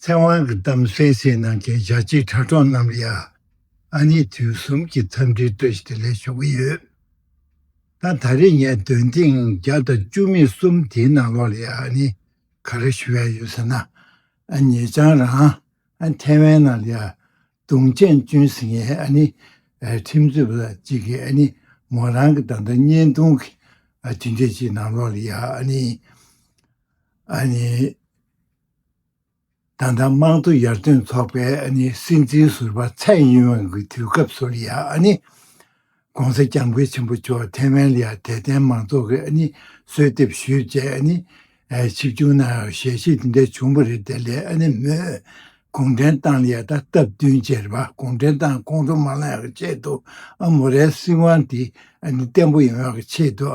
ཚེ་དབང་གི་གཏམ་གསལ་བཤད་གནང་མཁན་ཞྭ་སྐྱིད་དྲ་གྲོགས་རྣམས་ལ་ཡང་ཨ་ནེ་དུས་གསུམ་གྱི་འཚམས་འདྲི་སྤྲོད་བཞིན་ལས་ཞུ་གི་ཡོད། ད་ད་རེས་ངས་འདོན་ཐེངས་བརྒྱ་དང་བཅུ་མེད་གསུམ་དེའི་ནང་ལོགས་ལ་ཡང་ཨ་ནེ་ག་རེ་ཞུ་ཡ་ཡོད་ཟེར་ན། ཨ་ཉེ་ཆང་རང་ཨ་ཐེ་ཝན་ནང་ལ་ཡང་དུང་ཆེན་བསྐྱོན་ཟིན་ངས་ཨ་ནེ་ཁྲིམས་རྩོད་པ་གཅིག་གིས་ཨ་ནེ་མོ་རང་གི་ད་ལྟ་བརྙན་ཐུང་གི་ཇི་འདྲས་ཅིག་ནང་ལོགས་ལ་ཡང་ཨ་ནེ་ཨ་ནེ། ད་ལྟ་དམངས་གཙོ་ཡར་ཐོན་ཚོགས་པའི་སྲིད་འཛིན་ཟུར་པ་ཚད་ཡུན་ཝང་གི་དུས་སྐབས་སུ་ལི་ཡཱ ྋགོང་ས ྋསྐྱབས་མགོན་ཆེན་པོ་མཆོག་ཐའེ་ཝན་ལི་ཡཱ་དད་ལྡན་མང་ཚོགས་ཀྱི་གསོལ་འདེབས་ཞུས་རྗེས་ཆིབས་བསྒྱུར་གནང་ཡོད་ཞལ་བཞེས་འདི་འདྲ་བྱུང་བ་རེད་དེ་ལས་མོས་གུང་ཁྲན་ཏང་ལི་ཡཱ་ད་སྟབས་བསྟུན་རྗེས་རེ་བ་གུང་ཁྲན་ཏང་ཁོང་ཁྲོ་མ་ལངས་ཡོང་ཆེད་དུ་མོ་རའི་སྲིད་དབང་དེ་བརྟན་པོ་ཡོང་ཡོང་གི་ཆེད་དུ་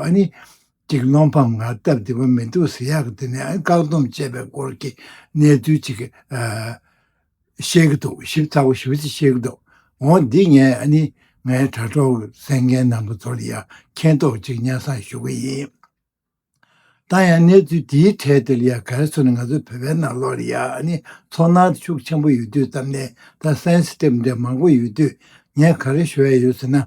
ཅིག་བློ་ཕམ་ང་སྟབས་བདེ་པོ་མི་འདུག་ཟེར་ཡག་གི་དེ་ནས་བཀག་སྡོམ་བཅད་པའི་སྐོར་གྱི་གནས་ཚུལ་ཅིག་བཤད་ཀྱི་འདུག་ཞིབ་ཚགས་པོ་ཞིབ་ཚགས་བཤད་ཀྱི་འདུག་འོ་འདི་ངས་ནི་ངའི་དྲ་གྲོགས་གསན་མཁན་རྣམས་པ་ཚོར་ཡང་མཁྱེན་རྟོགས་ཅིག་གཉའ་གསང་ཞུ་གི་ཡིན། ད་ཡང་གནས་ཚུལ་འདིའི་གྲས་འདིར་ཡང་གལ་སྲོལ་ནི་ང་ཚོ་བོད་པའི་ནང་ལོགས་ལ་ཡང་ནི་ཚོར་སྣང་ཤུགས་ཆེན་པོ་ཡོད་དུས་ཙམ་ནས་ད་སན་སི་ཏིབ་འདྲ་མང་པོ་ཡོད་དུས་ངས་ག་རེ་ཞུ་ཡ་ཡོད་ཟེར་ན་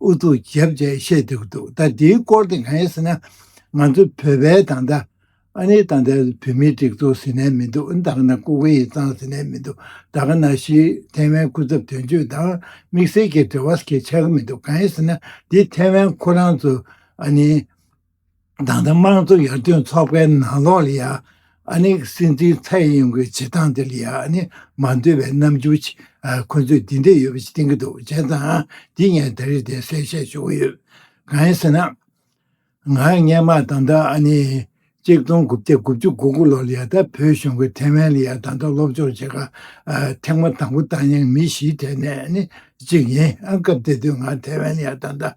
ཨུ་ཚུགས་བརྒྱབ་བཅས་བཤད་འདུག་འདུག་ད་འདིའི་སྐོར་དེ་གང་ཡིན་ཟེར་ན། ང་ཚོ་བོད་པའི་ད་ལྟ། ཨ་ནི་ད་ལྟའི་བོད་མིའི་སྒྲིག་འཛུགས་ཟེར་ནའི་མི་འདུག་ད་ག་ན་ཀོ་ཀོ་ཡི་གཙང་ཟེར་ནའི་མི་འདུག་ད་ག་ན་ཤི་ཐེ་ཝན་སྐུ་ཚབ་དོན་གཅོད་དང་དམིགས་བསལ་གྱི་འབྲེལ་བ་ཟེར་གྱི་ཆགས་ཀྱི་མི་འདུག་གང་ཡིན་ཟེར་ན་འདི་ཐེ་ཝན་ཁོ་རང་ཚོ་ཨ་ནི། ཏང་དང་དམངས་གཙོ་ཡར་ཐོན་ཚོགས་པའི་ནང་ལོགས་ལ་ཡང་ཨ་ནི་སྲིད་འཛིན་ཚའེ་ཡིན་གྱི་བྱེད་སྟངས་དེ་ལ་ཡང་ཨ་ནི་མ་འདོད་པའི་རྣམ་འགྱུར་ཞིག་ཁོ་ཚོས་འདི་འདྲ་ཡོད་པ་ཞིག་བསྟན་གྱི་འདུག་བྱས་ཙང་འདི་ངས་ད་རེས་དེ་གསལ་བཤད་ཞུ་གི་ཡོད། གང་ཡིན་ཟེར་ན། ང་སྔས་མ་ད་ལྟ་ཨ་ནི་གཅིག་སྟོང་དགུ་བརྒྱ་དགུ་བཅུ་དགུ་དགུ་ལོར་ལ་ཡང་ད་བོད་གཞུང་གི་ཐེ་ཝན་ལ་ཡང་ད་ལྟ་སློབ་སྦྱོང་བྱེད་ཁར་ཐེངས་མ་དང་པོ་བཏང་མྱངས་མི་བཞིའི་གྲས་ནས་ནི་གཅིག་ཡིན་ཨང་སྐབས་དེ་དུས་ང་ཐེ་ཝན་ལ་ཡང་ད་ལྟ་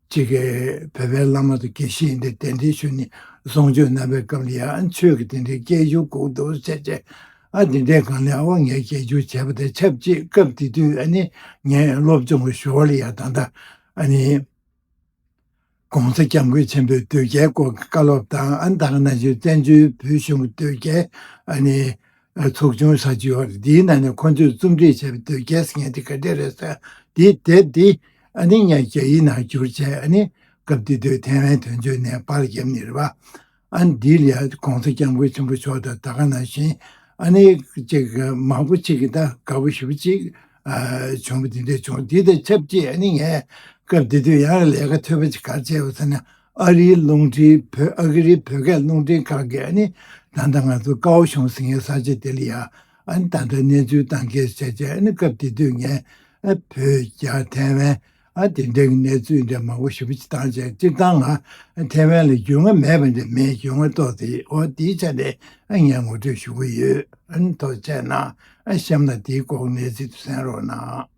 གཅིག་གིས་བོད་པའི་བླ་མ་དང་དགེ་བཤེས་ཡིན་ཏེ་དེ་འདྲའི་ཆོས་ནི་བཟང་སྤྱོད་རྣམ་པའི་སྐབས་ལ་ཡང་ཆོས་ཀྱི་དེ་འདྲའི་སྐྱེ་རྒྱུ་ལྐུགས་འདུག་བཤད་རྗེས། ཨ་དེ་འདྲའི་སྒང་ལས་དབང་ངེས་སྐྱེ་རྒྱུ་བྱས་པ་དེ་ཆབས་ཅིག་སྐབས་དེ་དུས་ཨ་ནི་ངས་སློབ་སྦྱོང་གི་ཞོར་ལ་ཡང་ད་ལྟ་ཨ་ནི ྋགོང་ས ྋསྐྱབས་མགོན་ཆེན་པོའི་དོལ་རྒྱལ་སྐོར་གྱི་བཀའ་སློབ་དང་ཨ་ནི་ད་ཁ་ན་གཞོན་བཙན་བྱོལ་བོད་གཞུང་གི་དོལ་རྒྱལ་ཨ་ནི་ཚོགས་ཆུང་ཧྲ་ཅི་ཧོར་འདིའི་ནང་ནས་ཁོ་ཚོས་རྩོམ་སྒྲིག་བྱས་པའི་དོལ་རྒྱལ་ཟེར་མཁན་དེ་ག་དེ་རེད་ཟེར་དེ་དེབ་འདི་ཨ་ནི་ངས་རྒྱ་ཡིག་ནང་བསྒྱུར་བྱས་ཨ་ནི་སྐབས་དེ་དུས་ཐེ་ཝན་དོན་གཅོད་ནས་པར་བརྒྱབ་ནི་རེད་པ་ཨ་ནི་འདི་ལ་གོང་ས་སྐྱབས་མགོན་ཆེན་པོ་མཆོག་དང་ད་ག་ནང་བཞིན་ཨ་ནི་ཅིག་མང་པོ་ཅིག་གི་ད་ག་བོ་ཞུ་ཅིག་བྱུང་བ་དེ་འདྲ་བྱུང་དེ་དང་ཆབས་ཅིག་ཨ་ནི་ངས་སྐབས་དེ་དུས་ཡང་ལས་ཀ་ཐོད་པ་ཅིག་གར་བྱས་ཡོད་ཟེར་ན་ཨ་རིའི་རླུང་འཕྲིན་བོད་ཨ་ཁི་རིའི་བོད་སྐད་རླུང་འཕྲིན་ཁང་གིས་ཨ་ནི་ད་ལྟ་ང་ཚོ་ཀའོ་ཤོང་ཟིང་ཡའི་ས་ཆ་དེ་ལ་ཡ་ཨ་ནི་ད་ལྟ་གནས་ཚུལ་དང་སྐད་ཆ་བྱས་ཨ་ནི་སྐབས་དེ་དུས་ངས་ཨ་བོད་རྒྱ་ཐའེ་ཝན་ཨ་དེ་འདྲ་གི་གནས་ཚུལ་འདྲ་མང་པོ་ཞིབ་ཕྱི་བཏང་བྱས་སྤྱིར་བཏང་ང་ཨ་ཐའེ་ཝན་ལ་རྒྱུས་མངའ་མེད་པ་འདྲ་མིན་རྒྱུས་མངའ་ཏོག་ཙེ་ཡོད་འོ་དེའི་ཆ་ནས་ཨ་ངས་ངོ་སྤྲོད་ཞུ་གི་ཡོད་ཨ་ནི་ཐོག་བཅས་ན་ཨ་གཤམ་ལ་དེའི་སྐོར་གནས་ཚུལ་དུ་གསན་རོགས་གནང།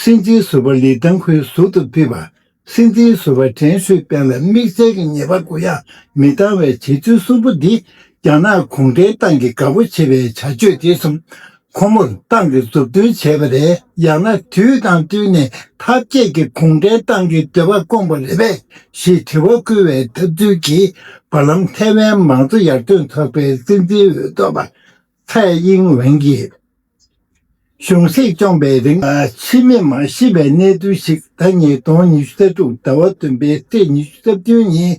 སྲིད་འཛིན་ཟུར་པ་ལི་ཐང་ཧུའེ་ཟུར་དུ་ཕུད་པ། སྲིད་འཛིན་ཟུར་པ་ཀྲེན་ཧྲུའེ་པེན་ལ་དམིགས་བསལ་གྱི་ཉེས་པ་གུ་ཡངས་མི་བཏང་བའི་བྱེད་ཚུལ་གསུམ་པོ་འདིས་རྒྱ་ནག་གུང་ཁྲན་ཏང་གི་དགའ་པོ་བྱེད་པའི་བྱ་སྤྱོད་དེ་གསུམ་ཁོ་མོར་ཏང་གི་མཛུབ་སྟོན་བྱས་པ་རེད། ཡང་ན་དུས་དང་བསྟུན་ནས་ཐབས་མཁས་ཀྱིས་གུང་ཁྲན་ཏང་གི་འདོད་པ་སྐོང་པ་རེད་པས་ཞེས་དྲི་བ་སྐུལ་བའི་ཐབས་ཚུལ་གྱིས་བར་ལམ་ཐའེ་ཝན་མང་གཙོ་ཡར་ཐོན་ཚོགས་པའི་སྲིད་འཛིན་འོས་ཐོབ་པ་ཚེ་དབྱིངས་ཝེང་གིས་གཞུང་སྲིད་སྐྱོང་པའི་རིང་ཕྱི་མི་མ་ཤི་བའི་གནས་ཚུལ་ཞིག་ཟླ་གཉིས་སྟོང་ཉི་ཤུ་རྩ་དྲུག་ཟླ་བ་བདུན་པའི་ཚེས་ཉི་ཤུ་རྩ་བདུན་ཉིན་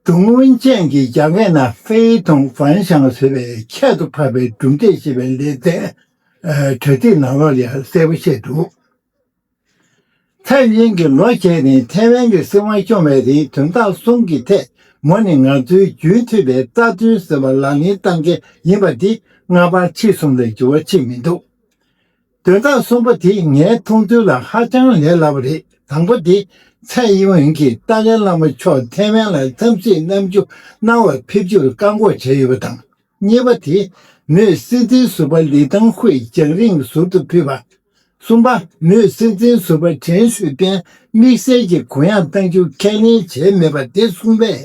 ཀྲུང་ཝུན་ཅན་གྱིས་རྒྱ་སྐད་ན་ཧྥེའི་ཐུང་ཧྥན་ཞང་ཟེར་བའི་ཁྱད་དུ་འཕགས་པའི་གྲུབ་འབྲས་ཞེས་པའི་ལེ་ཚན་དྲ་ཚིགས་ནང་ལོགས་ལ་གསལ་པོ་བཤད་འདུག། ཚེ་རིང་གིས་ལོ་བརྒྱད་ནི་ཐའེ་ཝན་གྱི་སྲིད་དབང་སྐྱོང་བའི་རིང་དོན་དག་གསུམ་གྱི་ཐད་མོ་ནི་ང་ཚོའི་རྒྱུན་མཐུད་པའི་རྩ་དོན་ཟེར་བ་ལག་ལེན་བསྟར་མཁན་ཡིན་པ་འདི་སྔ་བར་ཕྱི་གསུམ་ལས་འགྱུར་བ་ཕྱིན་མི་འདུག་དོན་དག་གསུམ་པ་དེ་ངའི་མཐོང་ཐོས་ལ་ཧ་ཅང་ལས་སླ་བ་རེད་དང་པོ་དེ་ཚེ་དབྱིན་གྱིས་ཏཱ་ལའི་བླ་མ་མཆོག་ཐའེ་ཝན་ལ་འཚམས་གཟིགས་གནང་རྒྱུ་གནང་བར་ཕེབས་རྒྱུར་བཀག་འགོག་བྱས་ཡོད་པ་དང། གཉིས་པ་དེ་མོས་སྲིད་འཛིན་ཟུར་པ་ལི་ཐང་ཧུའེ་རྒྱང་རིང་ཟུར་དུ་ཕུད་པ། གསུམ་པ་མོས་སྲིད་འཛིན་ཟུར་པ་ཁྲེན་ཧྲུའུ་པེན་དམིགས་བསལ་གྱི་གུ་ཡངས་གཏང་རྒྱུ་ཁས་ལེན་བྱས་མེད་པ་དེ་གསུམ་པས།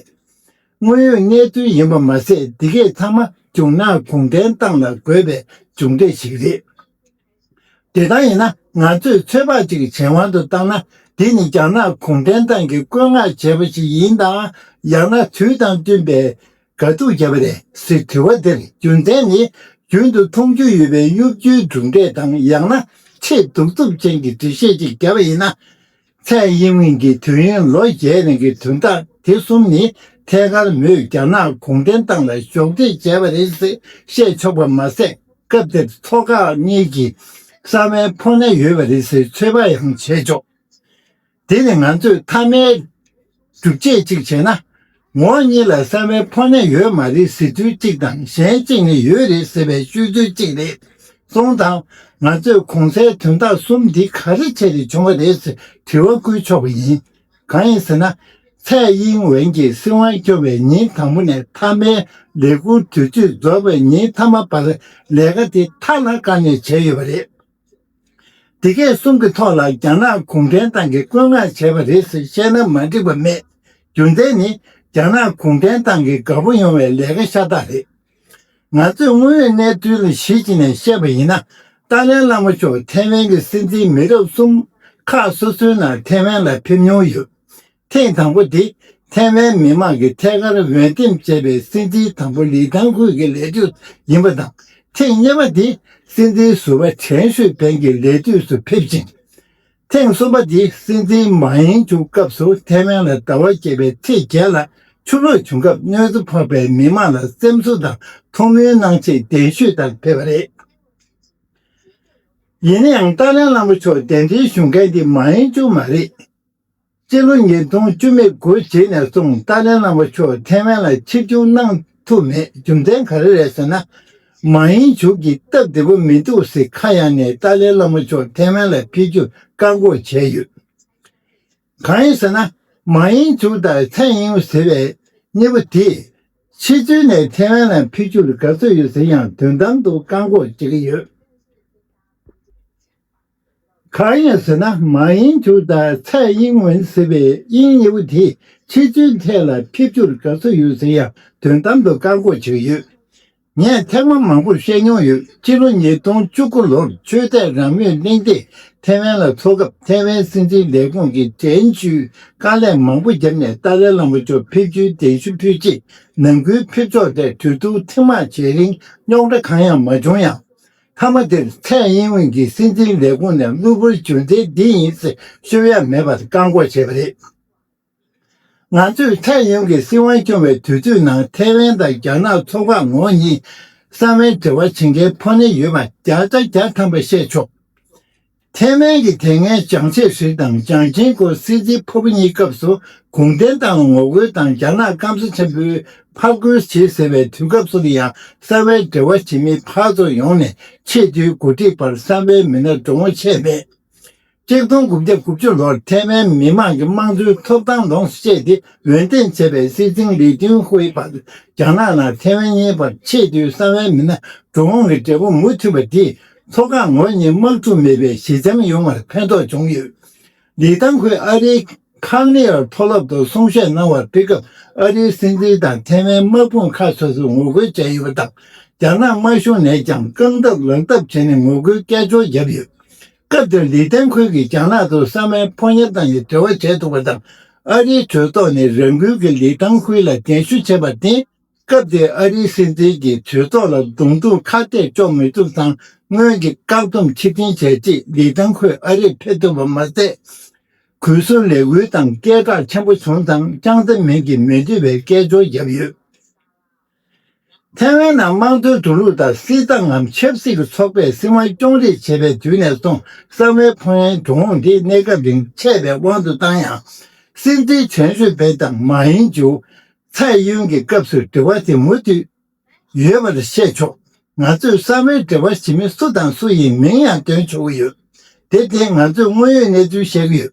དངོས་ཡོད་གནས་ཚུལ་ཡིན་པ་མ་ཟད་འདི་གས་ཚང་མ་རྒྱུགས་ནག་གུང་ཁྲན་ཏང་ལ་དགོས་པའི་མཇུག་འབྲས་ཤིག་རེད། དེ་ལྟར་ཡིན་ན་ང་ཚོས་ཚོད་དཔག་ཅིག་གཞན་དབང་དུ་བཏང་ན་འདི་ནི་རྒྱ་ནག་གུང་ཁྲན་ཏང་གིས་བཀོད་མངགས་བྱས་པ་ཞིག་ཡིན་དང་ཡང་ན་དུས་དང་བསྟུན་པའི་དགའ་སྡུག་བྱས་པ་རེད་ཟེར་དྲི་བ་འདིར་རྒྱུ་མཚན་ནི་རྒྱུན་དུ་མཐོང་རྒྱུ་ཡོད་པའི་གཡོ་སྒྱུའི་གྲུབ་འབྲས་དང་ཡང་ན་ཆེས་གདུག་རྩུབ་ཅན་གྱི་འགྲེལ་བཤད་ཅིག་བརྒྱབ་པ་ཡིན་ན། ཚད་དབྱིན་དབྱིན་གྱི་དུས་ཡུན་ལོ་བརྒྱད་རིང་གི་དུས་མཐའ་དེ་གསུམ་ནི་ཐད་ཀར་མོས་རྒྱ་ནག་གུང་ཁྲན་ཏང་ལ་གཞོགས་འདེགས་བྱས་པ་རེད་ཟེར་བཤད་ཆོག་པ་མ་ཟད་སྐབས་དེར་ཚོགས་ཁག་གཉིས་ཀྱི་གསར་མའི་ཕོགས་སྣེ་ཡོད་པ་རེད་ཟེར་ཚོད་དཔག་ཡང་བྱས་ཆོག་དེ་ནི་ང་ཚོས་མཐའ་མའི་སྒྲུབ་བྱེད་གཅིག་བྱས་ན། ངོ་གཉིས་ལ་གསང་བའི་ཕོ་ནད་ཡོད་མ་རེད་ཟེར་ཚུལ་གཅིག་དང་གཞན་གཅིག་ནི་ཡོད་རེད་ཟེར་བའི་ཤོད་ཚུལ་གཅིག་རེད་གསུངས་དང། ང་ཚོས་གོང་གསལ་དོན་དག་གསུམ་འདི་ག་རེ་བྱས་ཏེ་བྱུང་བ་རེད་ཟེར་དྲི་བ་བསྐུལ་ཆོག་པ་ཡིན། གང་ཡིན་ཟེར་ན། ཚེ་དབྱིན་ཝེན་གྱི་སྲིད་དབང་སྐྱོང་བའི་ཉིན་དང་པོ་ནས་མཐའ་མའི་ལས་ཁུར་དུས་ཚོད་རྫོགས་པའི་ཉིན་མཐའ་མ་བར་ལས་ཀ་དེ་མཐའ་ལ་དཀའ་ནས་བྱས་ཡོད་པ་རེད། འདི་གས་གསུམ་གྱི་ཐོག་ལ་རྒྱ་ནག་གུང་ཁྲན་ཏང་གིས་བཀོད་མངགས་བྱས་པ་རེད་ཟེར་བཤད་ན་མ་འགྲིག་པ་མེད། རྒྱུ་མཚན་ནི་རྒྱ་ནག་གུང་ཁྲན་ཏང་གིས་དགའ་པོ་ཡོང་བའི་ལས་ཀ་ཤ་སྟག་རེད། ང་ཚོས་དངོས་ཡོད་གནས་ཚུལ་ལ་གཞི་བྱས་ནས་བཤད་པ་ཡིན་ན། ཏཱ་ལའི་བླ་མ་མཆོག་ཐེ་ཝན་གྱི་སྲིད་འཛིན་མི་རབས་གསུམ་ཁག་སོ་སོའི་ནང་ཐེ་ཝན་ལ་ཕེབས་མྱོང་ཡོད། ཐེངས་དང་པོ་དེ་ཐའེ་ཝན་མི་མང་གིས་ཐད་ཀར་འོས་འདེམས་བྱས་པའི་སྲིད་འཛིན་དང་པོ་ལི་ཐང་ཁུའུ་གི་ལས་དུས་ཡིན་པ་དང་ཐེངས་གཉིས་པ་དེ་སྲིད་འཛིན་ཟུར་བ་ཁྲེན་ཧྲུའེ་པེན་གྱི་ལས་དུས་སུ་ཕེབས་ཅིང། ཐེངས་གསུམ་པ་དེ་སྲིད་འཛིན་མ་ཡེང་ཅུའུ་སྐབས་སུ་ཐའེ་ཝན་ལ་ཟླ་བ་བརྒྱད་པའི་ཚེས་བརྒྱད་ལ་ཆུ་ལོག་བྱུང་སྐབས་གནོད་འཚེ་ཕོག་པའི་མི་མང་ལ་སེམས་གསོ་དང་ཐུགས་སྨོན་གནང་ཆེད་གདན་ཞུས་དང་ཕེབས་པ་རེད། ཡིན་ན་ཡང་ཏཱ་ལའི་བླ་མ་མཆོག་གདན་འདྲེན་ཞུ་མཁན་དེ་མ་ཡེང་ཅུའུ་མ་རེད། སྤྱི་ལོ་ཉིས་སྟོང་བཅུ་མེད་དགུ་རྗེས་ནས་བཟུང་ཏཱ་ལའི་བླ་མ་མཆོག་ཐེ་ཝན་ལ་ཕྱིར་བྱུང་གནང་ཐུབ་མེད་རྒྱུ་མཚན་ག་རེ་རེད་ཟེར་ན། མ་དབྱིན་ཇུག་གིས་སྟབས་བདེ་པོ་མི་འདུག་ཟེར་ཁ་གཡང་ནས་ཏཱ་ལའི་བླ་མ་མཆོག་ཐེ་ཝན་ལ་ཕེབས་རྒྱུར་བཀག་འགོག་བྱས་ཡོད། གང་ཡིན་ཟེར་ན་མ་དབྱིན་ཇུག་དང་ཚའེ་དབྱིན་ཝུ་ཟེར་བའི་གཉིས་པོ་དེས་ཕྱི་ཚུལ་ནས་ཐེ་ཝན་ལ་ཕེབས་རྒྱུར་དགའ་བསུ་ཡོད་ཟེར་ཡང་དོན་དམ་དུ་བཀག་འགོག་བྱེད་ཀྱི་ཡོད། གང་ཡིན་ཟེར་ན་མ་ཡིན་ཁྱོད་ལྟར་ཚད་དབྱིངས་མིན་ཟེར་བའི་དབྱིངས་ཉེ་བོ་དེས་ཁྱེད་ཚོའི་ཐད་ལ་ཕེབས་རྒྱུར་དགའ་བསུ་ཡོད་ཟེར་ཡང་དོན་དམ་དུ་བཀག་འགོག་བྱས་ཡོད། ངས་ཐེངས་མ་མང་པོར་བཤད་མྱོང་ཡོད་སྤྱི་ལོ་ཉིས་སྟོང་བཅུ་དགུ་ལོར་ཆོས་དད་རང་མོས་གླེང་སྟེགས་ཐེ་ཝན་ལ་འཚོགས་སྐབས་ཐེ་ཝན་སྲིད་འཛིན་ལས་ཁུངས་ཀྱི་དྲན་གཅོད་དཀའ་ལས་མང་པོ་བརྒྱབ་ནས་ཏཱ་ལའི་བླ་མ་མཆོག་ཕེབས་རྒྱུའི་གདན་ཞུ་ཕུལ་རྗེས་ནང་ཁུལ་ཕེབས་ཕྱོགས་ཐད་གྲོས་བསྡུར་ཐེངས་མང་བྱས་རིང་རྙོག་དྲ་གང་ཡང་མ་བྱུང་ཡང། མཐའ་མ་དེར་ཚད་དབྱིན་ཝུན་གྱིས་སྲིད་འཛིན་ལས་ཁུངས་ནས་གློ་བུར་གྱོད་མཛད་འདི་ཡིན་ཚེ་ཤོད་ཡ་མེད་པར་བཀག་འགོག་བྱས་པ་རེད། ང་ཚོས་ཚད་དབྱིན་གྱིས་སྲིད་དབང་སྐྱོང་བའི་དུས་ཚོད་ནང་ཐའེ་ཝན་དང་རྒྱ་ནག་ཚོགས་ཁག་ངོགས་གཉིས་གསང་བའི་འབྲེལ་བ་བྱེད་མཁན་ཕོ་ནེ་ཡོད་པ་བརྒྱ་རྩ་བརྒྱ་ཐམ་པ་བཤད་ཆོག་ཐེ་ཝན་གྱི་དེ་སྔའི་ཅང་ཆེ་ཧྲི་དང་ཅང་ཅིན་གོའི་སྲིད་འཛིན་ཕུབ་གཉིས་སྐབས་སུ་གུང་ཁྲན་ཏང་ལ་ངོ་རྒོལ་དང་རྒྱ་ནག་སྐམ་ས་ཆེན་པོའི་ཕར་རྒོལ་བྱེད་ཟེར་བའི་དུས་སྐབས་སུ་ཡང་གསར་བའི་འབྲེལ་བ་བྱེད་མི་ཕར་ཚུར་ཡོང་ནས་ཆེས་མཐོའི་འགོ་ཁྲིད་བར་གསར་བའི་མི་སྣར་འགྲོ་འོང་བྱས་མེད། གཅིག་སྟོང་དགུ་བརྒྱ་དགུ་བཅུ་ལོར་ཐེ་ཝན་མི་དམངས་ཀྱི་དམངས་གཙོའི་ཐོབ་ཐང་ལོངས་སུ་སྤྱད་དེ་འོས་འདེམས་བྱས་པའི་སྲིད་འཛིན་ལི་ཏུན་ཧུའེ་བར་རྒྱ་ནག་དང་ཐེ་ཝན་གཉིས་བར་ཆེས་མཐོའི་གསར་བའི་མི་སྣ་འགྲོ་འོང་གི་འབྲེལ་བ་མུ་མཐུད་པ་དེས་མཚོ་སྒང་ངོས་གཉིས་དམག་འཁྲུག་མེད་པའི་ཞི་འཇམ་ཡོང་བར་ཕན་ཐོགས་བྱུང་ཡོད། ལི་ཐང་ཁོས་ཨ་རིའི་ཁང་ནེ་ཨར་མཐོ་སློབ་ཏུ་གསུང་བཤད་གནང་བར་ཕེབས་སྐབས་ཨ་རིའི་སྲིད་འཛིན་དང་ཐེ་ཝན་དམག་དཔུང་ཁག་སོ་སོས་ངོ་རྒོལ་བྱས་ཡོད་པ་དང་རྒྱ་ནག་དམར་གཞུང་ནས་ཀྱང་རྐང་སྟབས་ལག་སྟབས་བྱས་ནས་ངོ་རྒོལ་སྐད་ཅོར་བརྒྱབ་ཡོད། སྐབས་དེར་ལི་ཐང་ཁོས་ཀྱིས་རྒྱ་ནག་ཏུ་ས་མལ་ཕོ་ཉར་དང་ཡི་འབྲེལ་བ་བྱས་འདུག་པ་དང་ཨ་རིའི་གྲོས་ཚོགས་ནས་རང་འགུལ་གྱིས་ལི་ཐང་ཁོའི་ལ་གདན་ཞུ་བྱས་པར་བརྟེན། སྐབས་དེའི་ཨ་རིའི་སྲིད་འཛིན་གྱིས་གྲོས་ཚོགས་ལ་རྡུང་རྡུང་ཁ་གཏད་གཅོག་མི་ཐུབ་ཙང་སྔོན་གྱི་བཀག་སྡོམ་ཕྱིར་འཐེན་བྱས་རྗེས་ལི་ཐང་ཁོས་ཨ་རིར་ཕེབས་ཐུབ་པ་མ་ཟད། གུས་སུ་ལས་འགུལ་དང་སྐད་གྲགས་ཆེན་པོ་བྱུང་ཙང་ཅང་ཙེ་མིན་གྱིས་མི་འདོད་པའི་སྐད་ཅོར་བརྒྱབ་ཡོད། ཐའེ་ཝན་ནང་དམངས་གཙོའི་དུ་ལུགས་དང་སྲིད་ཏང་ངམ་ཆབ་སྲིད་ཀྱི་ཚོགས་པས་སྲིད་དབང་སྐྱོང་རེས་བྱེད་པའི་དུས་ནས་བཟུང་གསང་བའི་ཕོ་ཡན་འབྱུང་འོང་དེ་གནས་སྐབས་རིང་ཆད་པའི་དབང་དུ་བཏང་ཡང། སྲིད་འཛིན་གྲན་ཤོད་པེ་དང་མཱ་ཡིན་ཅུའུ། ཚད་ཡོན་གྱི་སྐབས་སུ་འབྲེལ་བ་དེ་མུ་མཐུད་ཡོད་པར་བཤད་ཆོག་ང་ཚོས་གསང་བའི་འབྲེལ་བ་ཞི་མི་སུ་དང་སུ་ཡིན་མིང་ཡང་འདོན་ཆོག་གི་ཡོད། དེ་སྟེང་ང་ཚོས་དངོས་ཡོད་གནས་ཚུལ་བཤད་ཀྱི་ཡོད།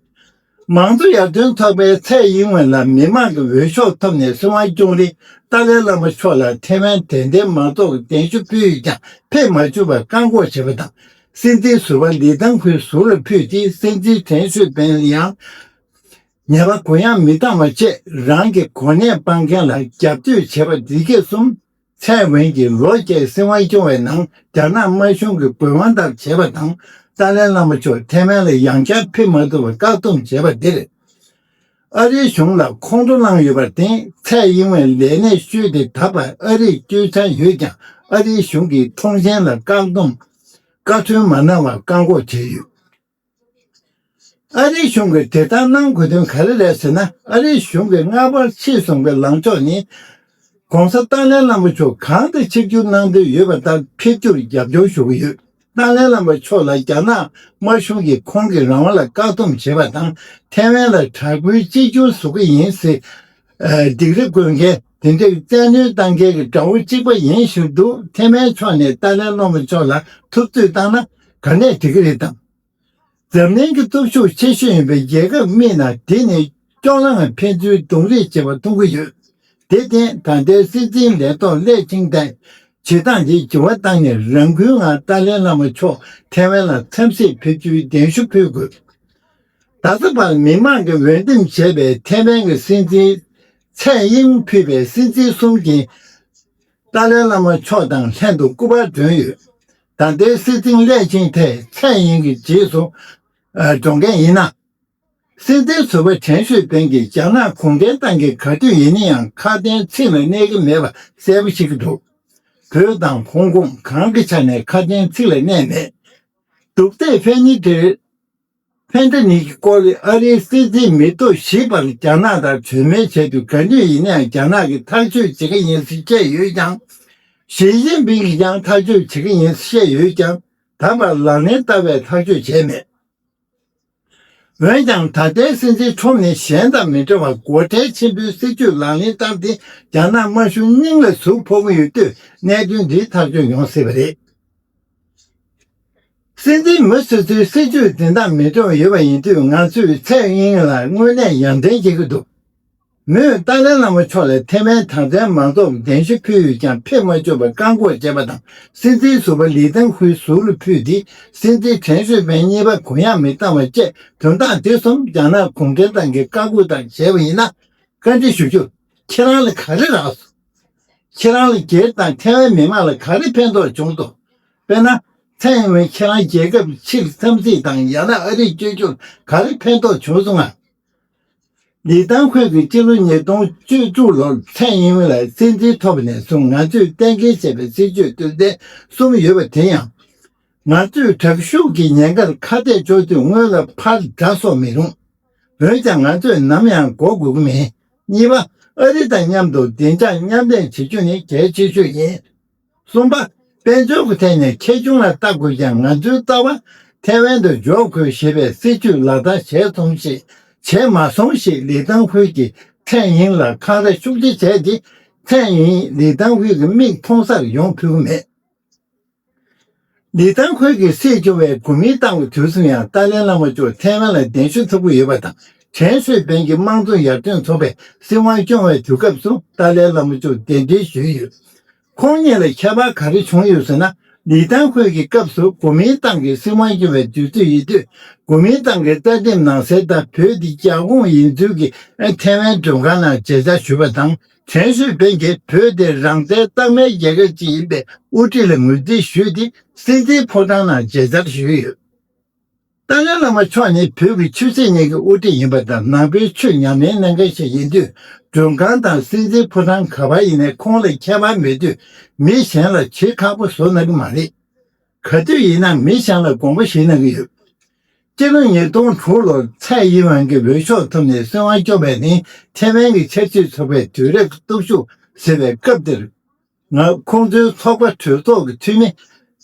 མང་གཙོ་ཡར་ཐོན་ཚོགས་པའི་ཚད་ཡིན་ངོས་ལ་མི་མང་གི་འོས་ཤོག་ཐོབ་ནས་སྲིད་དབང་སྐྱོང་རིང་ཏཱ་ལའི་བླ་མ་མཆོག་ལ་ཐེ་ཝན་དད་ལྡན་མང་ཚོགས་ཀྱི་གདན་ཞུ་ཕུལ་ཡོད་ཀྱང་ཕེབས་མ་བཅུག་པར་བཀག་འགོག་བྱས་པ་དང། སྲིད་འཛིན་ཟུར་པ་ལི་ཐང་ཁུའི་ཟུར་ལ་ཕུལ་ཏེ་སྲིད་འཛིན་དྲན་ཤོས་པེན་ལི་ཡང། ཉེས་པ་གུ་ཡངས་མི་གཏང་བ་བཅས་རང་གི་གོ་གནས་སྤང་མཁན་ལ་རྒྱབ་གཏོད་བྱེད་པ་འདི་ག་གསུམ། ཚེ་དབེན་གྱི་ལོ་བརྒྱའི་སྲིད་དབང་སྐྱོང་བའི་ནང་རྒྱ་ནག་དམར་གཞུང་གི་དགོས་དབང་ལྟར་བྱེད་པ་དང་ཏཱ་ལའི་བླ་མ་མཆོག་ཐེ་ཝན་ལ་ཡང་བསྐྱར་ཕེབས་མ་ཐུབ་པར་བཀག་སྡོམ་བྱེད་པ་འདིར། ཨ་རིའི་གཞུང་ལ་ཁོང་ཁྲོ་བསླངས་ཡོད་པར་བརྟེན་ཚེ་དབྱིན་ཝེ་ལས་གནས་བཅོལ་དེ་ད་བར་ཨ་རིར་སྐྱོད་འཆར་ཡོད་ཀྱང་ཨ་རིའི་གཞུང་གིས་ཁྲོང་ཆེན་ལ་བཀག་སྡོམ། བཀའ་མཐུན་མ་གནང་བར་བཀག་འགོག་བྱས་ཡོད། ཨ་རིའི་གཞུང་གིས་དེ་ལྟར་གནང་དགོས་དོན་ག་རེ་རེད་ཟེར་ན་ཨ་རིའི་གཞུང་གིས་སྔ་བར་ཕྱི་བཟུང་གི་ལངས་ཕྱོགས་ནི ྋགོང་ས་ཏཱ་ལའི་བླ་མ་མཆོག་གང་དུ་ཆིབས་བསྒྱུར་གནང་འདོད་ཡོད་པ་ལྟར་ཕེབས་རྒྱུར་རྒྱབ་སྐྱོར་ཞུ་གི་ཡོད། ཏཱ་ལའི་བླ་མ་མཆོག་ལ་རྒྱ་ནག་དམར་གཞུང་གིས་ཁོང་གི་རང་དབང་ལ་བཀག་སྡོམ་བྱེད་པ་དང་ཐའེ་ཝན་ལ་དྲག་པོའི་གཅིག་གྱུར་བཟོ་གི་ཡིན་ཟེར་སྡིགས་རེ་བསྐོས་མཁན་དེ་འདྲའི་བཙན་གནོན་གཏང་མཁན་གྱི་དགྲ་བོ་གཅིག་པ་ཡིན་ཞུ་འདུག་ཐེ་མའི་ཕྱོགས་ནས་ཏཱ་ལའི་བློ་མ་མཆོག་ལ་ཐུབ་ཚོད་བཏང་ན་ག་ནས་འགྲིག་གི་རེད་དམ། འཛམ་གླིང་གི་སྟོབས་ཤུགས་ཆེ་ཤོས་ཡིན་པའི་རྒྱལ་ཁབ་རྨིས་ན་དེ་ནི་སྐྱོ་ལངས་ཕན་ཚུན་རྡུང་རེས་བྱེད་པ་མཐོང་གི་ཡོད། དེ་བརྟེན་ད་ལྟའི་སྲིད་འཛིན་ལས་ཐོག་སླད་ཆིང་ཏན་བྱེད་སྟངས་དེ་ལྗི་བ་བཏང་ནས་རང་འགུལ་ངང་ཏཱ་ལའི་བླ་མ་མཆོག་ཐེ་ཝན་ལ་འཚམས་ཤིག་ཕེབས་རྒྱུའི་གདན་ཞུ་ཕུལ་དགོས། ད་ལྟ་བར་མི་མང་གིས་འོས་འདེམས་བྱས་པའི་ཐེ་ཝན་གྱི་སྲིད་འཛིན་ཚེ་གཡེང་ཕུད་པའི་སེམས་ཅན་གསུམ་གྱི། ཏཱ་ལའི་བླ་མ་མཆོག་དང་ལྷན་དུ་སྐུ་པར་བསྒྲོན་ཡོད། ད་ལྟའི་སྲིད་འཛིན་སླད་ཕྱིན་ཐད་ཚེ་གཡེང་གི་རྗེས་སུ་འབྲོ་མཁན་ཡིན་ན། སྲིད་འཛིན་ཟུར་པ་ཁྲེན་ཤོད་ཕེན་གྱིས་རྒྱ་ནག་གུང་ཁྲན་ཏང་གི་ག་དུས་ཡིན་ན་ཡང་ཁ་དན་ཚིག་ལ་གནས་ཀྱི་མེད་པ་གསལ་པོ་ཤེས་ཀྱི་འདུག་བོད་དང་ཧོང་ཀོང་གང་གི་ཆ་ནས་ཁ་དན་ཚིག་ལ་གནས་མེད། སྡུག་ལྟས་ཕན་ནི་འདིར། ཕན་བདེ་གཉིས་ཀྱི་སྐོར་ལས་ཨ་རིའི་སྲིད་འཛིན་མི་ཐུབ་ཞེས་པར་རྒྱ་ནག་དང་གྲོས་མོལ་བྱས་དུས་ག་དུས་ཡིན་ན་ཡང་རྒྱ་ནག་གིས་ཐག་གཅོད་བྱེད་ཀྱི་ཡིན་ཟེར་བཤད་ཡོད་ཀྱང། ཞི་ཅིན་ཕིང་གིས་ཀྱང་ཐག་གཅོད་བྱེད་ཀྱི་ཡིན་ཟེར་བཤད་ཡོད་ཀྱང་ད་བར་ལག་ལེན་བསྟར་བའི་ཐག་གཅོད་བྱས་མེད། འོན་ཀྱང་ད་ལྟའི་སྲིད་འཛིན་ཁྲོམ་ནི་གཞན་དང་མི་འདྲ་བར་སྒོ་ཁྲལ་ཆེན་པོའི་སྲིད་ཇུས་ལག་ལེན་བསྟར་ཏེ་རྒྱ་ནག་དམར་གཞུང་སྙིང་ལ་ཟུག་ཕོག་གི་ཡོད་དུས་གནད་དོན་འདི་ཐག་གཅོད་ཡོང་སྲིད་པ་རེད། སྲིད་འཛིན་མི་སོ་སོའི་སྲིད་ཇུས་འཛིན་སྟངས་མི་འདྲ་བ་ཡོད་པ་ཡིན་དུས་ང་ཚོས་ཚེ་དབྱིན་ལ་དངོས་གནས་ཡང་དྲན་བྱེད་ཀྱི་འདུག་མོས་ཏཱ་ལའི་བླ་མ་མཆོག་ལ་ཐེ་ཝན་དྲང་བདེན་མང་ཚོགས་གདན་ཞུ་ཕུལ་ཡོད་ཀྱང་ཕེབས་མ་བཅུག་པར་བཀག་འགོག་བྱས་པ་དང་སྲིད་འཛིན་ཟུར་པ་ལི་ཐང་ཧུའེ་ཟུར་ལ་ཕུལ་ཏེ་སྲིད་འཛིན་ཁྲེན་ཧྲི་ཕེན་གཉིས་པ་གུ་ཡངས་མི་བཏང་བ་བཅས་དོན་དག་འདི་གསུམ་རྒྱ་ནག་གུང་ཁྲན་ཏང་གིས་བཀའ་བསྒོས་དང་བྱས་པ་ཡིན་ན་བཀའ་འདྲི་ཞུ་རྒྱུ་ཁྱེད་རང་ལ་ག་རེ་རག་སོང། ཁྱེད་རང་ལ་སྒེར་དང་ཐེ་ཝན་མི་དམངས་ལ་ག་རེ་ཕན་ཐོགས་བྱུང་སོང། དཔེར་ན། ཚེ་ཡིན་ན་ཁྱེད་རང་རྒྱལ་ཁབ་ཕྱིར་འཚམས་གཟིགས་དང་ཡང་ན་ཨ་རིར་བསྐྱོད་རྒྱུར་ག་རེ་ཕན་ཐོགས་བྱུང་སོང་ངམ། ལི་ཐང་ཧུའེ་གིས་སྤྱི་ལོ་ཉིས་སྟོང་བཅུ་དྲུག་ལོར་ཚེ་ཡིན་ཝུན་ལ་སྲིད་འཛིན་ཐོབ་པ་ནས་བཟུང་ང་ཚོས་གཏན་འཁེལ་བྱས་པའི་སྲིད་ཇུས་དོན་ཚན་གསུམ་ཡོད་པ་དེ་ཡང། ང་ཚོས་དྲག་ཤུགས་ཀྱི་ཉེན་ཁར་ཁ་གཏད་གཅོག་དུས་སྔོན་ལ་ཕར་དགྲ་གསོག་མི་རུང། འོན་ཀྱང་ང་ཚོས་ནམ་ཡང་འགོག་དགོས་ཀྱི་མེད། གཉིས་པ། ཨ་རི་དང་མཉམ་དུ་བདེ་འཇགས་མཉམ་ལས་བྱེད་རྒྱུ་ནི་གལ་ཆེ་ཤོས་ཡིན། གསུམ་པ། དཔལ་འབྱོར་གྱི་ཐད་ནས་ཁྱད་གཞུང་ལ་ལྟ་དགོས་ཀྱང་ང་ཚོའི་རྩ་བ་ཐའེ་ཝན་དུ་འཇོག་དགོས་ཞེས་པའི་སྲིད་བྱུས་ལག་བསྟར་བྱས་སོང་ཞིག་བྱས་མ་སོང་ཞིག་ལི་ཏང་ཧུའེ་ཀྱིས་ཁྲེན་དབྱིན་ལ་འཁང་ར་ཤུགས་ཆེ་བྱས་ཏེ་ཁྲེན་དབྱིན་ལི་ཏང་ཧུའེ་ཀྱི་མིག་མཐོང་སར་ཡོང་ཕོད་ཀྱི་མེད། ལི་ཐང་ཁུལ་གྱི་སྲིད་སྐྱོང་བའི་དགོན་མིའི་ཏང་གི་དུས་གསུམ་ཡང་ཏཱ་ལའི་བླ་མ་མཆོག་ཐའེ་ཝན་ལ་གདན་ཞུ་ཐུབ་ཀྱི་ཡོད་པ་དང་དྲན་གསོས་འབེན་གྱི་དམངས་གཙོ་ཡར་ཐོན་ཚོགས་པའི་སྲིད་དབང་སྐྱོང་བའི་དུས་སྐབས་སུ་ཏཱ་ལའི་བླ་མ་མཆོག་གདན་འདྲེན་ཞུས་ཡོད། ཁོང་གཉིས་ལ་ཁྱད་པར་ག་རེ་བྱུང་ཡོད་ཟེར་ན་ལི་ཐང་ཁུལ་གྱི་སྐབས་སུ་དགོན་མིའི་ཏང་གི་སྲིད་དབང་སྐྱོང་བའི་དུས་ཚོད་ཡིན་དུས་དགོན་མིའི་ཏང་གི་རྩ་དེབ་ནང་གསལ་ལྟར་བོད་འདི་རྒྱ་ཁོངས་ཡིན་ཚུལ་གྱི་ཐའེ་ཝན་མགྲོན་ཁང་ནང་མཇལ་བཅར་ཞུས་པ་དང། དྲན་གསོའི་འཕེལ་རྒྱས་བོད་དེ་རང་བཙན་གཙང་མའི་རྒྱལ་ཁབ་ཅིག་ཡིན་པའི་དབུ་ཁྲིད་ལ་ངོས་འཛིན་ཞུས་ཏེ་སྲིད་འཛིན་ཕོ་བྲང་ནང་མཇལ་དར་ཞུས་ཡོད། ཏཱ་ལའི་བླ་མ་མཆོག་ནི་བོད་ཀྱི་ཆོས་སྲིད་གཉིས་ཀྱི་དབུ་ཁྲིད་ཡིན་པ་དང་ནང་པའི་ཆོས་ཉམས་ལེན་གནང་མཁན་ཞིག་ཡིན་དུས་མགྲོན་ཁང་དང་སྲིད་འཛིན་ཕོ་བྲང་ག་པར་ཡིན་ནས་ཁོང་ལ་ཁྱད་པར་མེད་དུས་མི་གཞན་ལ་བྱེད་ཁག་པོ་བཟོ་གནང་གི་མ་རེད། ག་དུས་ཡིན་ན་མི་ཞིང་ལ་དགོངས་པ་ཞིག་གནང་གི་ཡོད། སྤྱི་ལོ་ཉིས་སྟོང་དྲུག་ལོར་ཚའེ་དབྱིན་ཝན་གྱི་འོས་ཤོག་ཐོབ་ནས་སྲིད་དབང་སྐྱོང་བས་ནི་ཐེ་ཝན་གྱི་ཆབ་སྲིད་ཚོགས་པའི་དུས་རབས་སྟོབས་ཤུགས་ཟེར་བའི་སྐབས་དེར། ང་ཁོང་ཚོའི་ཚོགས་པ་གྲོས་ཚོགས་ཀྱི་འཐུས་མི་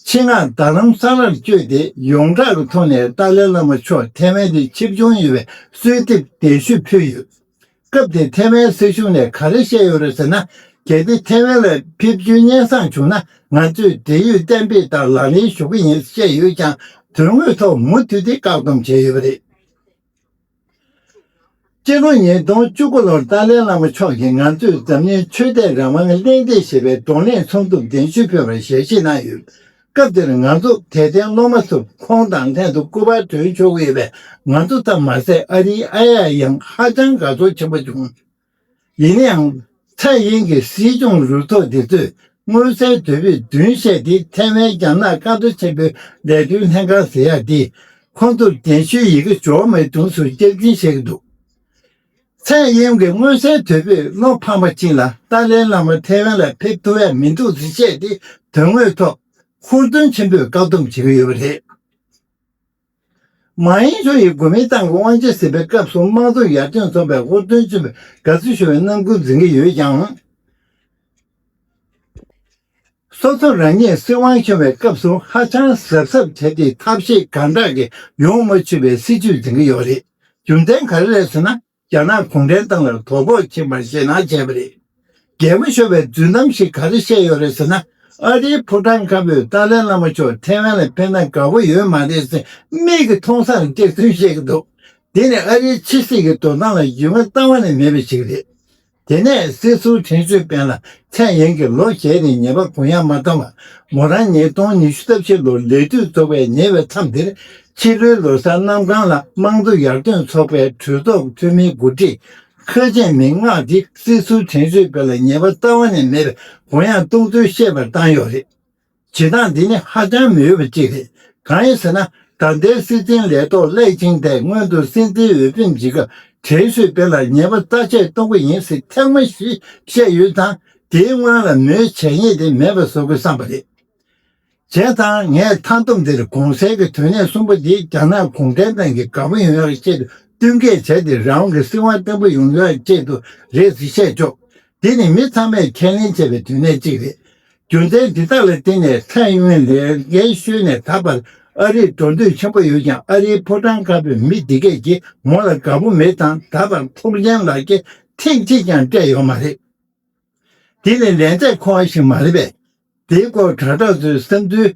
ཆིང་ངག་རྡ་རམ་ས་ལར་བསྐྱོད་དེ་ཡོངས་གྲགས་ཀྱི་ཐོག་ནས་ཏཱ་ལའི་བླ་མ་མཆོག་ཐེ་ཝན་དུ་ཆིབས་སྦྱོང་ཡོད་པའི་གསོལ་འདེབས་གདན་ཞུ་ཕུལ་ཡོད། སྐབས་དེར་ཐའེ་ཝན་སྲིད་གཞུང་ནས་ག་རེ་བཤད་ཡོད་རེད་ཟེར་ན། གལ་ཏེ་ཐའེ་ཝན་ལ་ཕེབས་རྒྱུའི་སྙན་གསང་བྱུང་ན་ང་ཚོས་འབྲེལ་ཡོད་གཏན་འབེབས་ལྟར་ལག་ལེན་ཞུ་གི་ཡིན་བཤད་ཡོད་ཀྱང་དོན་དངོས་ཐོག་མུ་མཐུད་དེ་བཀག་སྡོམ་བྱས་ཡོད་པ་རེད། སྤྱི་ལོ་ཉིས་སྟོང་བཅུ་དགུ་ལོར་ཏཱ་ལའི་བླ་མ་མཆོག་གིས་ང་ཚོས་འཛམ་གླིང་ཆོས་དད་རང་དབང་གླེང་སྟེགས་ཞེས་པའི་གདོང་ལེན་ཚོགས་འདུར་གདན་ཞུ་ཕུལ་བར་ཞལ་བཞེས་གནང་ཡོད། སྐབས་དེར་ང་ཚོ་དད་ལྡན་སློབ་མ་ཚོས་ཁོང་དང་ལྷན་དུ་སྐུ་པར་དོན་ཆོག་ཡོད་པས་ང་ཚོ་ཙམ་མ་ཟད་ཨ་རིའི་ཨ་ཡ་ཡང་ཧ་ཅང་དགའ་ཚོར་ཆེན་པོ་བྱུང། ཡིན་ནའང། ཚའེ་ཡེན་གྱི་སྲིད་སྐྱོང་རུ་ཚོགས་དེ་ཚོས་མངོན་གསལ་དོད་པོས་བདུན་བཤད་དེ་ཐའེ་ཝན་རྒྱ་ནག་བཀའ་བསྡུར་ཆེན་པོའི་ལས་དོན་ལྷན་ཁང་ཟེར་ཡག་དེ་ཁོང་ཚོར་གདན་ཞུའི་ཡི་གེ་འབྱོར་མེད་དུས་སུ་བསྐྱར་འཛིན་བྱེད་ཀྱི་འདུག། ཚད་གཡེང་གི་མངོན་གསལ་དོད་པོས་བློ་ཕམ་པ་ཅན་ལ་ཏཱ་ལའི་བླ་མར་ཐའེ་ཝན་ལ་ཕེབས་ཐུབ་བས་མི་འདུག་ཟེར་བཤད་དེ་དོན་དངོས་ཐོག་ཧུར་བརྩོན་ཆེན་པོས་བཀག་སྡོམ་བྱེད་ཀྱི་ཡོད་པ་རེད། མ་ཡེང་ཆོ་ཡིས་གོ་མིན་ཏང་གི་དབང་ཆ་ཟིན་པའི་སྐབས་སུ་དམངས་གཙོ་ཡར་ཐོན་འཛོམས་པའི་ཧུར་བརྩོན་ཆེན་པོས་དགའ་བསུ་ཞུ་བའི་རྣམ་ཀུན་འཛིན་གྱི་ཡོད་ཀྱང། སོ་སོ་རང་ཉིད་སྲིད་དབང་ཤོར་བའི་སྐབས་སུ་ཧ་ཅང་གཟབ་གཟབ་བྱས་ཏེ་ཐབས་ཤེས་གང་དྲག་གིས་ཡོང་མ་ཆུད་པའི་སྲིད་ཇུས་འཛིན་གྱི་ཡོད་རེད། རྒྱུ་མཚན་ག་རེ་རེད་ཟེར་ན་རྒྱ་ནག་གུང་ཁྲན་ཏང་ལ་དོ་ཕོག་ཆེན་པོ་ཞེད་སྣང་བྱས་པ་རེད། རྒྱལ་པོ་ཤོར་བའི་རྫུན་གཏམ་ཞིག་ག་རེ་བཤད་ཡོད་རེད་ཟེར་ན་ཨ་རིའི་ཕོ་བྲང་དཀར་པོས་ཏཱ་ལའི་བླ་མ་མཆོག་ཐེ་ཝན་ལ་ཕེབས་ན་དགའ་པོ་ཡོད་མ་རེད་ཟེར་མིག་གིས་མཐོང་སར་སྐྱག་རྫུན་བཤད་ཀྱི་འདུག་དེ་ནི་ཨ་རིའི་ཕྱི་སྲིད་ཀྱི་འགྲོ་སྟངས་ལ་ཡུལ་ང་གཙང་བ་ནས་མེད་པ་ཞིག་རེད། དེ་ནས་སྲིད་ཟུར་དྲན་གསོའི་དཔལ་ལ་ཚད་ཡན་གྱིས་ལོ་བརྒྱད་རིང་ཉེས་པ་གུ་ཡངས་མ་བཏང་བར་མོ་རང་ཉིད་སྟོང་ཉི་ཤུ་རྩ་བཞི་ལོར་ལས་དུས་རྫོགས་པའི་ཉེ་བའི་མཚམས་འདིར་ཕྱི་ལོའི་ལོ་སར་གནམ་གང་ལ་དམངས་གཙོ་ཡར་ཐོན་ཚོགས་པའི་གྲོས་ཚོགས་འཐུས་མིའི་མགོ་ཁྲིད་ཁ་ཆེ་མི་ལྔ་འདིས་སྲིད་ཟུར་དྲན་གསོའི་དཔལ་ལ་ཉེས་པ་རྩ་བ་ནས་མེད་པའི་གུ་ཡངས་གཏོང་ཚུལ་ཤེས་པར་བཏང་ཡོད་རེད། བྱེད་སྟངས་འདི་ནི་ཧ་ཅང་མི་འོས་པ་ཅིག་རེད། གང་ཡིན་ཟེར་ན་ད་ལྟའི་སྲིད་འཛིན་ལས་ཐོག་སླེགས་ཆིང་ཐའེ་སྔོན་དུ་སྲིད་འཛིན་འོས་འཕེན་བྱེད་སྐབས་དྲན་གསོའི་དཔེ་ལ་ཉེས་པ་རྩ་ཆད་གཏོང་གི་ཡིན་ཟེར་ཐེངས་མང་ཞིག་བཤད་ཡོད་ཙང་དེའི་སྔོན་ལ་མོའི་བྱས་ཉེས་དེ་མེད་པ་བཟོ་དགོས་བསམ་པ་རེད། བྱས་ཙང་ངས་མཐའ་བསྡོམས་འདིར་གོང་གསལ་གྱི་དོན་གནད་གསུམ་པོ་འདི་རྒྱ་ནག་གུང་ཁྲན་ཏང་གིས་དགའ་པོ་ཡོང་ཡག་ཆེད་དུ་བསྟུན་མཁས་བྱས་ཏེ་རང་དབང་གི་སྲིད་དབང་བརྟན་པོ་ཡོང་ཡག་ཆེད་དུ་རེད་ཟེར་བཤད་ཆོག་དེ་ནི་མི་ཚང་མས་ཁས་ལེན་བྱེད་པའི་དོན་གནད་ཅིག་རེད། རྒྱུ་མཚན་འདི་དག་ལ་བརྟེན་ནས་ཚད་ཡོན་ལས་འགན་ཤོད་ནས་ད་བར་ཨ་རིར་འགྲོ་འདོད་ཆེན་པོ་ཡོད་ཀྱང་ཨ་རིའི་ཕོ་བྲང་ཁག་པའི་མི་འདི་སྐད་ཀྱིས་མོ་ལ་དགའ་པོ་མེད་དང་ད་བར་ཁོང་ཆེན་ལགས་ཀྱིས་ཐེངས་གཅིག་ཀྱང་སྤྲད་ཡོད་མ་རེད། འདི་ནི་ལན་ཚད་མཁོ་བ་ཞིག་མ་རེད་པས་འདིའི་སྐོར་དྲ་གྲོགས་ཚོའི་བསམ་ཚུལ་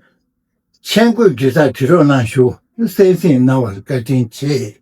མཆན་བཀོད་བརྒྱུད་ས་དྲི་རོགས་གནང་ཞུ་གསལ་བསྲིངས་གནང་བར་བཀའ་དྲིན་ཆེ།